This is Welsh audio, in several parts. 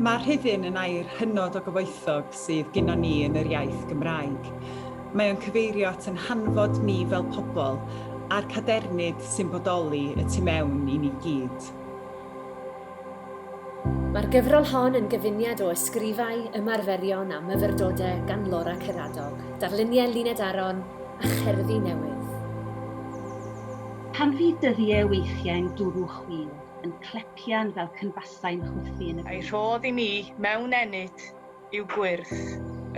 Mae rhyddhyn yn air hynod o gyfoethog sydd gynnon ni yn yr iaith Gymraeg. Mae o'n cyfeirio at yn hanfod ni fel pobl a'r cadernid sy'n bodoli y tu mewn i ni gyd. Mae'r gyfrol hon yn gyfuniad o ysgrifau, ymarferion a myfyrdode gan Laura Ceradog, darluniau Luned Aron a cherddi newydd. Pan fydd dyddie weithiau'n dwrw chwil yn clepian fel cynfasau'n chwythu yn y byd. Ei rhodd i mi mewn ennyd. yw gwyrth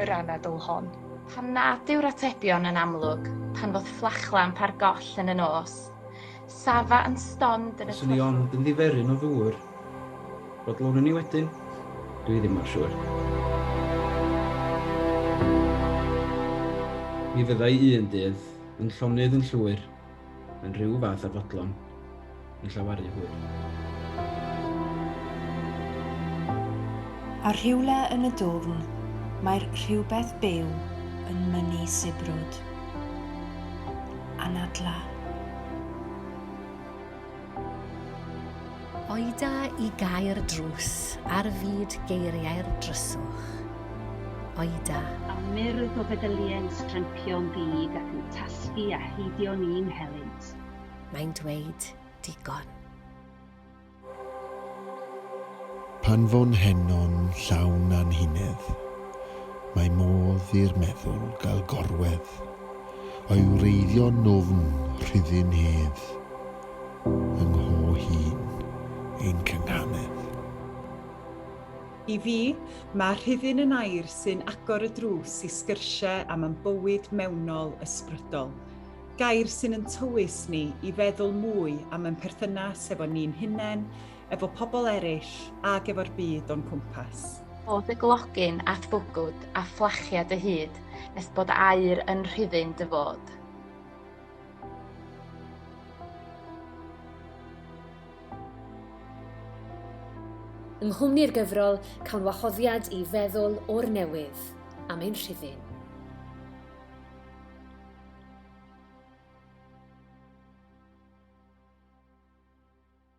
yr anadl hon. Pam nad yw'r atebion yn amlwg pan fodd fflachlamp ar goll yn y nos, safa yn stond yn y twll. Fyswn i ond yn ddiferyn o ddŵr. Bod lwn yn i wedyn? Dwi ddim mor siŵr. Mi fyddai un dydd, yn llonydd yn llwyr, Mae'n rhyw fath â fodlon yn llawaru hwyr. A rhywle yn y dwfn, mae'r rhywbeth byw yn mynnu sibrwd. Anadla. Oeda i gau'r drws ar fyd geiriau'r dryswch. Oeda. A myrdd o feddyliau'n strempio'n ddig ac yn tasgu a heidio'n un helynt. Mae'n dweud digon. Pan fo'n heno'n llawn anhunedd. Mae modd i'r meddwl gael gorwedd. I wreiddio nofn rhyddin hedd. Yng ngho hun ein cynghanedd. I fi, mae rhyddin yn air sy'n agor y drws i sgyrsie am am bywyd mewnol ysbrydol. Gair sy'n yn tywys ni i feddwl mwy am yn perthynas hefo ni'n hunen, efo pobl eraill ac efo'r byd o'n cwmpas. Bod dy glogyn at bwgwd a fflachia dy hyd nes bod aer yn rhifyn dy fod. Yng nghwmni'r gyfrol, cawn wahoddiad i feddwl o'r newydd am ein rhifyn.